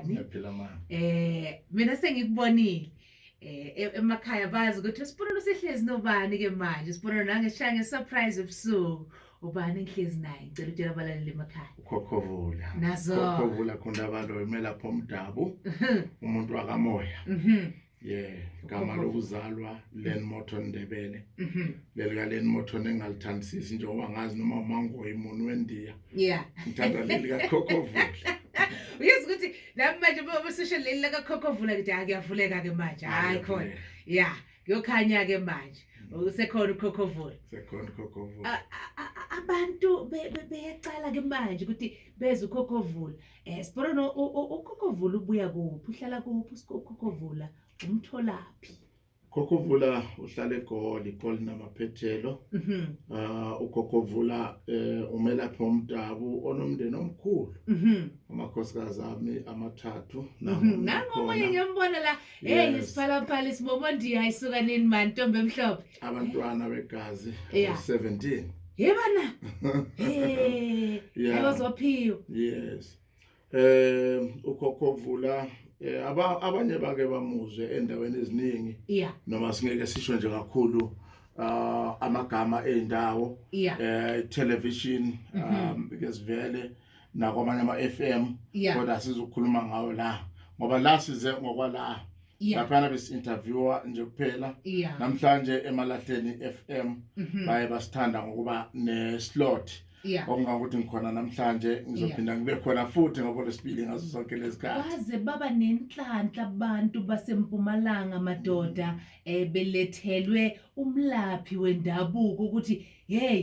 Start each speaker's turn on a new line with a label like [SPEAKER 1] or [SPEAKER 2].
[SPEAKER 1] ngiyaphila ma eh
[SPEAKER 2] mina sengikubonile eh e-, emakhaya bazi ukuthi usibonelo sihlezi nobani ke manje usibonelo nangeshaya ngesurprise ebusuku ubani ngihlezi naye ngicela utshela abalaleli emakhaya ukhokovula
[SPEAKER 1] nazo ukhokovula
[SPEAKER 2] khona abantu
[SPEAKER 1] kumele lapho umdabu umuntu wakamoya mhm yeah igama lokuzalwa Len Morton Ndebele mhm. lelika Len Morton engalithandisisi njengoba ngazi noma umangoyi umuntu wendiya yeah ngithanda lelika Khokhovula uyazi
[SPEAKER 2] ukuthi nami manje uma sisho leli laka Khokhovula ngithi akuyavuleka ke manje hayi khona yeah kuyokhanya ke manje mm. usekhona ukhokhovula sekhona ukhokhovula
[SPEAKER 1] abantu
[SPEAKER 2] beyaqala ke manje ukuthi beze ukhokhovula Eh Sibona uKhokovula ubuya kuphi uhlala kuphi uKhokovula umtholaphi Khokhovula
[SPEAKER 1] uhlala eGoli, iGoli namaphethelo. Mhm. Ah uGoggovula eh umelaphi omdabu onomndeni omkhulu. Mhm. Amakhosikazi ami amathathu mhm. nangu. Nangu
[SPEAKER 2] omunye ngiyambona la. Hey isiphalaphala isibobo ndiya isuka nini man ntombi emhlophe. abantwana
[SPEAKER 1] begazi Yeah. 17 yebana
[SPEAKER 2] hey Yeah. abazophiwa yes
[SPEAKER 1] eh ukhokho vula eh, aba- abanye bake bamuzwe endaweni eziningi yeah noma singeke sisho nje kakhulu ah, amagama eindawo yeah eh television um because vele nakwamanye ama-FM Yeah. kodwa sizokhuluma ngawo la ngoba la size ngokwala Yeah. laphana besi-interviewa nje kuphela Yeah. namhlanje emalahleni FM Mhm. baye basithanda ngokuba ne-slot Yeah. okungangokuthi ngikhona namhlanje ngizophinda ngibe khona futhi ngokolesibili ngazo zonke lezikhathi baze baba
[SPEAKER 2] nenhlanhla abantu basempumalanga madoda um belethelwe umlaphi wendabuko ukuthi hey